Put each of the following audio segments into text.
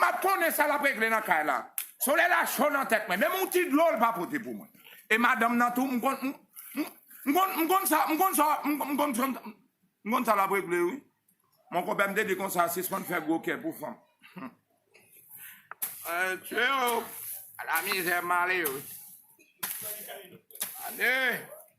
Map konnen sa lap regle nan kay la. Solèy la cho nan tèt mwen, menm yon ti dlo l pa pote pou mwen. E madanm nan tou m konn m konn m konn sa m konn sa m konn m konn sa m konn sa lap regle wi. Mon konpè m te di konsa sispann fè gwo kè pou fanm. Mesye o! Ala mizè m ale wi. Ane!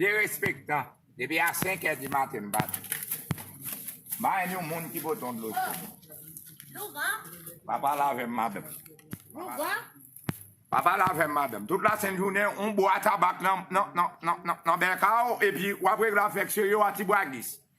Derespektan, depi a 5 è di maten m bat. Bay yon moun ki pote yon dlo cho. Pa pale avè m madanm. Pa pale avè m madanm. Tout la sent jounen yon bwa tabak nan bèka w epi w ap regle afè ksye yo a ti bwa gis.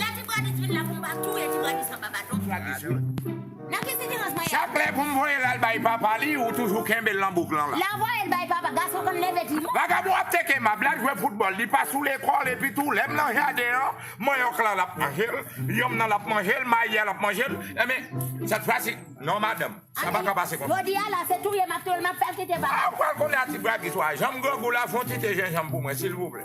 Lè ti Branis vin la pou m pa touye ti Branis anba baton. Nan ki sitirans mwen ye la. Chak lè pou m voye l al bay papa li ou toujou kenbe l nan bouk lan la. Lè voye l bay papa gason konn leve di mò. Vagabon ap teke mab l al jwe foutbòl li pa sou lekòl epi tou lè m nan jaden an manyòk la l ap manje l yonm nan l ap manje l mayi a l ap manje l enben sèt fwa si non madanm sa pa ka pase konsa. Jodi a la se touye m ap touye l m ap fè l kite papa l. Ou pral konnen a ti Branis wa janm grangou la fon ti te jenjanm pou mwen silvouplè.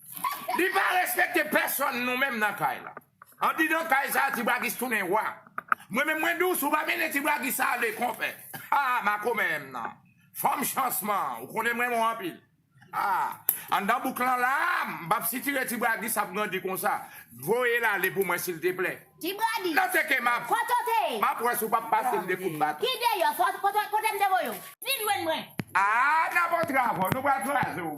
Li pa respekte pèsòn nou menm nan kay la. Andidan kay sa ti braguis tounen roi. Mwen menm mwen diw si w pa mennen ti braguis ale konpè haa makomè m nan fanm chansman ou konnen m renmen w anpil haa anndan bouk lan la a m pap sitire ti braguis ap grandi konsa voye l ale pou mwen silteplè Ti braguis nan teke map Kote w te ye? map wè si w pap pase m de kout baton. Ki deyò sa w te kote m te voye w? Vin jwenn mwen. Aa nan bon travo nou pral kraze w.